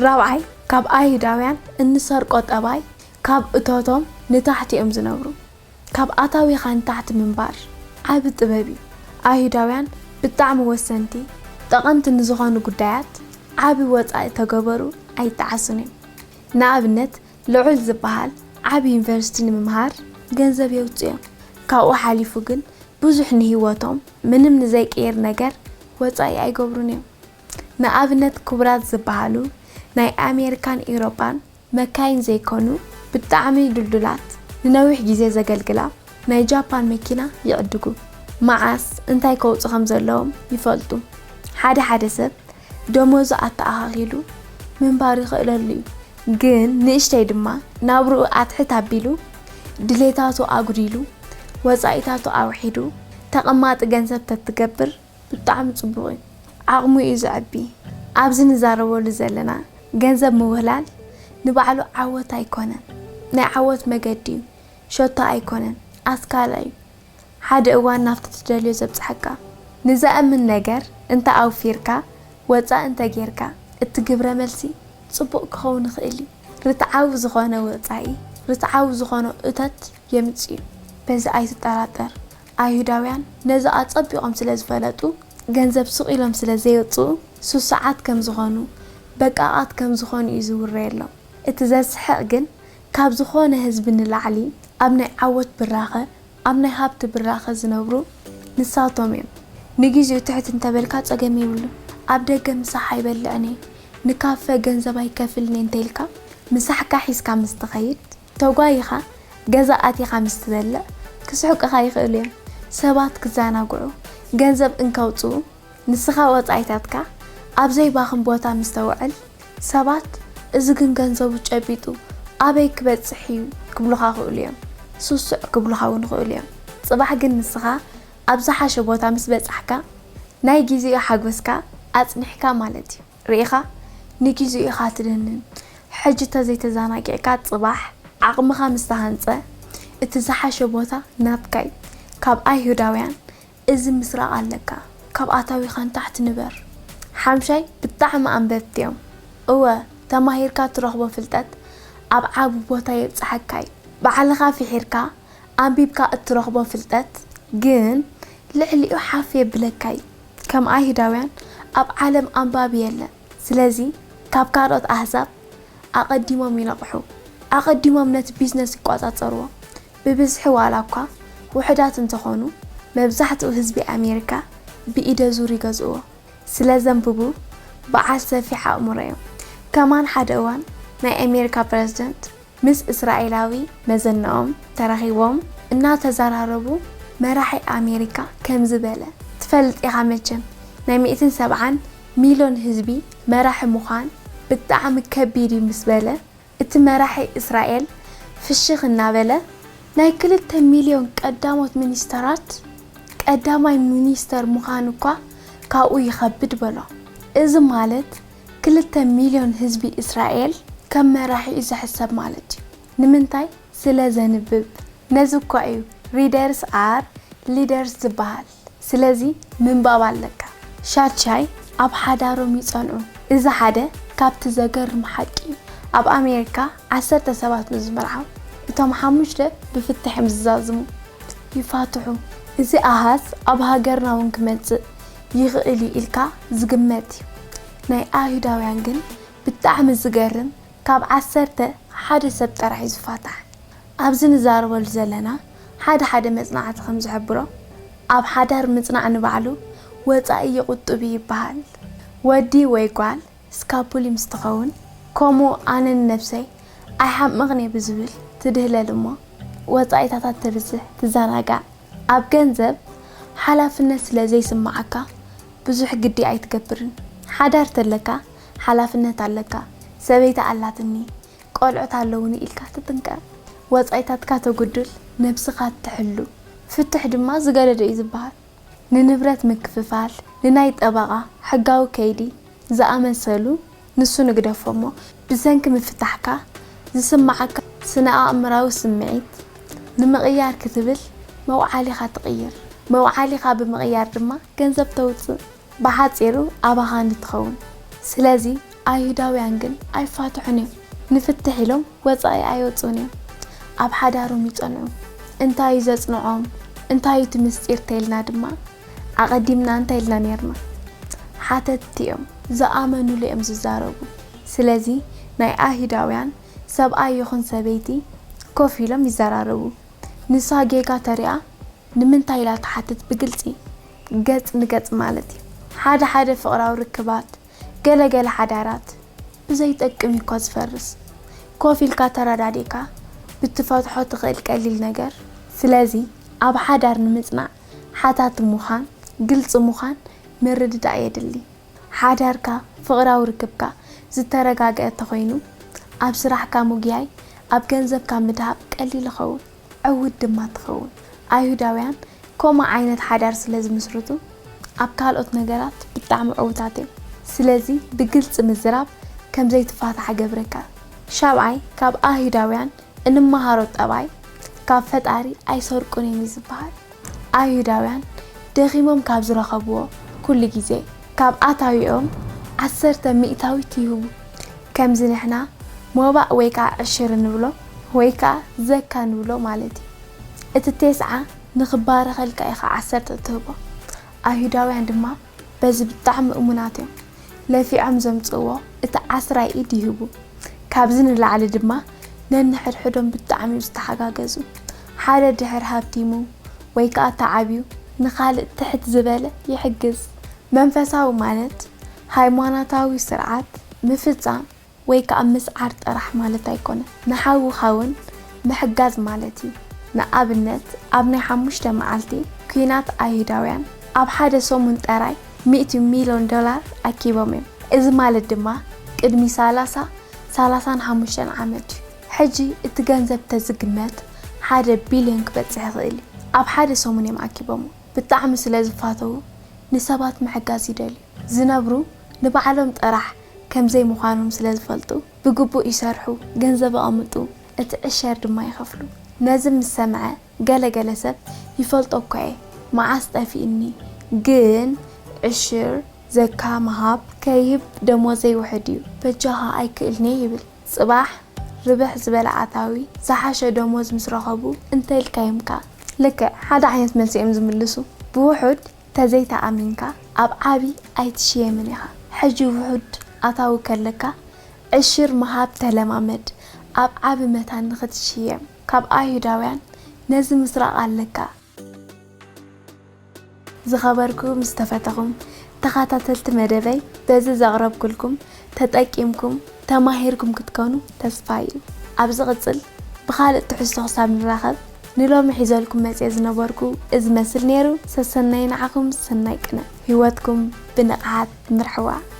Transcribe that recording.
ራብዓይ ካብ ኣይሁዳውያን እንሰርቆ ጠባይ ካብ እቶቶም ንታሕቲ እዮም ዝነብሩ ካብ ኣታዊኻ ንታሕቲ ምንባር ዓቢ ጥበብ እዩ ኣይሁዳውያን ብጣዕሚ ወሰንቲ ጠቐምቲ ንዝኾኑ ጉዳያት ዓቢ ወጻኢ ተገበሩ ኣይጣዓሱን እዮም ንኣብነት ልዑል ዝባሃል ዓቢ ዩኒቨርሲቲ ንምምሃር ገንዘብ የውጽኡ እዮም ካብኡ ሓሊፉ ግን ብዙሕ ንሂወቶም ምንም ንዘይቅይር ነገር ወጻኢ ኣይገብሩን እዮም ንኣብነት ክቡራት ዝበሃሉ ናይ ኣሜሪካን ኢውሮጳን መካይን ዘይኮኑ ብጣዕሚ ድልዱላት ንነዊሕ ግዜ ዘገልግላ ናይ ጃፓን መኪና ይዕድጉ። መዓስ እንታይ ከውጹ ከም ዘለዎም ይፈልጡ። ሓደ ሓደ ሰብ ደሞዙ ኣተኣኻኺሉ ምንባር ይኽእለሉ እዩ። ግን ንእሽተይ ድማ ናብርኡ ኣትሕት ኣቢሉ ድሌታቱ ኣጉዲሉ ወጻኢታቱ ኣውሒዱ ተቐማጢ ገንዘብ ተትገብር ብጣዕሚ ጽቡቕ እዩ ዓቕሙ እዩ ዘዕቢ። ኣብዚ ንዛረበሉ ዘለና ገንዘብ ምውህላል ንባዕሉ ዓወት ኣይኮነን ናይ ዓወት መገዲ እዩ ሸቶ ኣይኮነን ኣስካላ እዩ ሓደ እዋን ናብቲ ትደልዮ ዘብጽሓካ ንዘእምን ነገር እንተ ኣውፊርካ ወጻኢ እንተ ጌርካ እቲ ግብረ መልሲ ጽቡቕ ክኸውን ይኽእል እዩ ርትዓዊ ዝኾነ ወጻኢ ርትዓዊ ዝኾነ እቶት የምጽእ እዩ በዚ ኣይትጠራጠር ኣይሁዳውያን ነዚ ኣጸቢቖም ስለ ዝፈለጡ፣ ገንዘብ ስቕ ኢሎም ስለ ዘየውጽኡ፣ ስሱዓት ከም ዝዀኑ፣ በቃቓት ከም ዝዀኑ እዩ ዝውረየሎም። እቲ ዘስሕቕ ግን፣ ካብ ዝዀነ ህዝቢ ንላዕሊ ኣብ ናይ ዓወት ብራኸ፣ ኣብ ናይ ሃብቲ ብራኸ ዝነብሩ ንሳቶም እዮም። ንግዜኡ ትሕት እንተ በልካ ጸገም የብሉን። ኣብ ደገ ምሳሕ ኣይበልዕን እየ፣ ንካፈ ገንዘብ ኣይከፍልን እየ እንተ ኢልካ፣ ምሳሕካ ሒዝካ ምስ ትኸይድ፣ ተጓይኻ ገዛ ኣቲኻ ምስ ትበልዕ ክስሕቁኻ ይኽእሉ እዮም። ሰባት ክዘናግዑ ገንዘብ እንከውጽኡ ንስኻ ወጻኢታትካ ኣብ ዘይባኽን ቦታ ምስ ተውዕል ሰባት እዚ ግን ገንዘቡ ጨቢጡ ኣበይ ክበጽሕ እዩ ክብሉኻ ይኽእሉ እዮም። ሱሱዕ ክብሉኻ እውን ይኽእሉ እዮም። ጽባሕ ግን ንስኻ ኣብ ዝሓሸ ቦታ ምስ በጻሕካ ናይ ግዜኡ ሓጎስካ ኣጽኒሕካ ማለት እዩ። ርኢኻ ንጊዚኡ ኢኻ ትድንን ሕጂ ተዘይተዛናጊዕካ ጽባሕ ዓቕምኻ ምስ ተሃንጸ እቲ ዝሓሸ ቦታ ናትካ'ዩ ካብ ኣይሁዳውያን እዚ ምስራቕ ኣለካ ካብ ኣታዊኻ ንታሕቲ ንበር ሓምሻይ ብጣዕሚ ኣንበብቲ'ዮም እወ ተማሂርካ ትረኽቦ ፍልጠት ኣብ ዓቢ ቦታ የብጽሓካ'ዩ ባዕልኻ ፊሒርካ ኣንቢብካ እትረኽቦ ፍልጠት ግን ልዕሊኡ ሓፍ የብለካ'ዩ ከም ኣይሁዳውያን ኣብ ዓለም ኣንባቢ የለን ስለዚ ካብ ካልኦት ኣህዛብ ኣቀዲሞም ይነቅሑ ኣቀዲሞም ነቲ ቢዝነስ ይቆጻጸርዎ ብብዝሒ ዋላ እኳ ውሑዳት እንተኮኑ መብዛሕትኡ ህዝቢ ኣሜሪካ ብኢደዙር ይገዝእዎ ስለ ዘንብቡ በዓል ሰፊሕ ኣእምሮ እዮም ከማን ሓደ እዋን ናይ ኣሜሪካ ፕረዝደንት ምስ እስራኤላዊ መዘነኦም ተራኺቦም እናተዘራረቡ መራሒ ኣሜሪካ ከምዚ በለ፣ ትፈልጥ ኢኻ መቸም ናይ ሚእትን ሰብዓን ሚሎን ህዝቢ መራሒ ምዃን ብጣዕሚ ከቢድ እዩ ምስ በለ እቲ መራሒ እስራኤል ፍሽኽ እናበለ፣ ናይ ክልተ ሚልዮን ቀዳሞት ሚኒስተራት ቀዳማይ ሚኒስተር ምዃን እኳ ካብኡ ይኸብድ በሎ። እዚ ማለት ክልተ ሚልዮን ህዝቢ እስራኤል ከም መራሒ'ዩ ዝሕሰብ ማለት'ዩ። ንምንታይ? ስለ ዘንብብ። ነዚ እኳ'ዩ Readers are Leaders ዝበሃል። ስለዚ ምንባብ ኣለካ። ሻድሻይ ኣብ ሓዳሮም ይጸንዑ። እዚ ሓደ ካብቲ ዘገርም ሓቂ'ዩ። ኣብ ኣሜሪካ ዓሰርተ ሰባት ምስ ዝምርዓው፣ እቶም ሓሙሽተ ብፍታሕ'ዮም ዝዛዝሙ። ይፋትሑ። እዚ ኣሃዝ ኣብ ሃገርና'ውን ክመጽእ ይኽእል እዩ ኢልካ ዝግመት እዩ ናይ ኣይሁዳውያን ግን ብጣዕሚ ዝገርም ካብ ዓሰርተ ሓደ ሰብ ጥራሕ እዩ ዝፋታሕ ኣብዚ ንዛረበሉ ዘለና ሓደ ሓደ መጽናዕቲ ከም ዝሕብሮ ኣብ ሓዳር ምጽናዕ ንባዕሉ ወጻኢ ይቁጡብ እዩ ይባሃል ወዲ ወይ ጓል ስካፑሊ ምስ ትኸውን ከምኡ ኣነ ንነብሰይ ኣይሓምቕን'የ ብዝብል ትድህለል እሞ ወጻኢታታት ተብዝሕ ትዘናጋዕ ኣብ ገንዘብ ሓላፍነት ስለ ዘይስምዓካ ብዙሕ ግዲ ኣይትገብርን ሓዳር ተለካ ሓላፍነት ኣለካ ሰበይቲ ኣላትኒ ቆልዑት ኣለዉኒ ኢልካ ትጥንቀቕ ወጻኢታትካ ተጉድል ነብስኻ ትሕሉ ፍትሕ ድማ ዝገደደ'ዩ ዝብሃል ንንብረት ምክፍፋል፣ ንናይ ጠበቓ ሕጋዊ ከይዲ ዝኣመሰሉ ንሱ ንግደፎ'ሞ ብሰንኪ ምፍታሕካ ዝስመዓካ ስነ-ኣእምራዊ ስምዒት ንምቕያር ክትብል መውዓሊኻ ትቕይር። መውዓሊኻ ብምቕያር ድማ ገንዘብ ተውጽእ። ብሓጺሩ ኣባኻ ንትኸውን። ስለዚ ኣይሁዳውያን ግን ኣይፋትሑን እዮም፣ ንፍትሕ ኢሎም ወጻኢ ኣይወጽኡን እዮም። ኣብ ሓዳሮም ይጸንዑ። እንታይ እዩ ዘጽንዖም፣ እንታይ እዩ እቲ ምስጢር ተይልና ድማ ኣቐዲምና እንታይ ኢልና ኔርና? ሓተትቲ እዮም፣ ዝኣመኑሉ እዮም ዝዛረቡ። ስለዚ ናይ ኣይሁዳውያን ሰብኣይ ይኹን ሰበይቲ ኮፍ ኢሎም ይዘራረቡ። ንሳ ጌጋ ተሪኣ ንምንታይ ኢላ ትሓትት ብግልጺ ገጽ ንገጽ ማለት እዩ ሓደ ሓደ ፍቅራዊ ርክባት ገለ ገለ ሓዳራት ብዘይ ጠቅም እዩ እኳ ዝፈርስ ኮፍ ኢልካ ተረዳዲእካ ብትፈትሖ ትክእል ቀሊል ነገር ስለዚ ኣብ ሓዳር ንምጽናዕ ሓታቲ ሙኻን ግልጺ ሙኻን ምርድዳእ የድሊ ሓዳርካ ፍቅራዊ ርክብካ ዝተረጋገኣ ተኮይኑ ኣብ ስራሕካ ሙግያይ ኣብ ገንዘብካ ምድሃብ ቀሊል ይከውን ዕውት ድማ ትኸውን። ኣይሁዳውያን ከምኡ ዓይነት ሓዳር ስለ ዝምስርቱ ኣብ ካልኦት ነገራት ብጣዕሚ ዕውታት እዮም። ስለዚ ብግልጺ ምዝራብ ከም ዘይትፋታሕ እገብረካ። ሻብዓይ፣ ካብ ኣይሁዳውያን እንመሃሮ ጠባይ ካብ ፈጣሪ ኣይሰርቁን እዮም እዩ ዝበሃል። ኣይሁዳውያን ደኺሞም ካብ ዝረኸብዎ ኩሉ ግዜ ካብ ኣታዊኦም ዓሰርተ ሚእታዊት ይህቡ፣ ከምዚ ንሕና ሞባእ ወይ ከኣ ዕሽር እንብሎ ወይ ከኣ ዘካ ንብሎ ማለት እዩ። እቲ ቴስዓ ንኽባረኸልካ ኢኻ ዓሰርተ እትህቦ። ኣይሁዳውያን ድማ በዚ ብጣዕሚ እሙናት እዮም ለፊዖም ዘምጽእዎ እቲ ዓስራይ ኢድ ይህቡ ካብዚ ንላዕሊ ድማ ነንሕድሕዶም ብጣዕሚ እዮም ዝተሓጋገዙ ሓደ ድሕር ሃብቲሙ ወይ ከኣ ተዓብዩ ንኻልእ ትሕት ዝበለ ይሕግዝ መንፈሳዊ ማለት ሃይማኖታዊ ስርዓት ምፍጻም ወይ ከኣ ምስዓር ጥራሕ ማለት ኣይኮነን፣ ንሓውኻ ውን ምሕጋዝ ማለት እዩ። ንኣብነት ኣብ ናይ ሓሙሽተ መዓልቲ ኲናት ኣይሁዳውያን ኣብ ሓደ ሰሙን ጠራይ ሚእቲ ሚሎን ዶላር ኣኪቦም እዮም። እዚ ማለት ድማ ቅድሚ ሰላሳ፣ ሰላሳን ሓሙሽተን ዓመት እዩ። ሕጂ እቲ ገንዘብ ተዝግመት ሓደ ቢልዮን ክበጽሕ ይኽእል እዩ። ኣብ ሓደ ሰሙን እዮም ኣኪቦሞ። ብጣዕሚ ስለዝፋተዉ ንሰባት ምሕጋዝ ይደልዩ። ዝነብሩ ንባዕሎም ጥራሕ ከምዘይ ምዃኖም ስለዝፈልጡ ብግቡእ ይሰርሑ ገንዘብ ኣቐምጡ እቲ ዕሸር ድማ ይኸፍሉ ነዚ ምስ ሰምዐ ገለ ገለ ሰብ ይፈልጦ እኳ እየ መዓስ ጠፊእኒ ግን ዕሽር፣ ዘካ፣ ምሃብ፣ ከይህብ ደሞዘይ ውሕድ እዩ በጃኻ ኣይክእልንየ ይብል ጽባሕ ርብሕ ዝበለ ኣታዊ ዝሓሸ ደሞዝ ምስ ረኸቡ እንተኢልካዮምካ ልክዕ ሓደ ዓይነት መልሲ እዮም ዝምልሱ ብውሑድ ተዘይተኣሚንካ ኣብ ዓቢ ኣይትሽየምን ኢኻ ሕጂ ውሑድ ኣታዊ ከለካ ዕሽር ምሃብ ተለማመድ ኣብ ዓቢ መታን ንኽትሽየም ካብ ኣይሁዳውያን ነዚ ምስራቕ ኣለካ። ዝኸበርኩ ምስ ተፈተኹም ተኻታተልቲ መደበይ በዚ ዘቕረብኩልኩም ተጠቂምኩም ተማሂርኩም ክትከኑ ተስፋይ እዩ ኣብ ዝቅጽል ብካልእ ትሕዝቶ ክሳብ ንራከብ ንሎሚ ሒዘልኩም መጽየ ዝነበርኩ እዚ መስል ነይሩ ሰሰናዩ ንዓኩም ሰናይ ቅነ ሂወትኩም ብንቅሓት ምርሕዋ።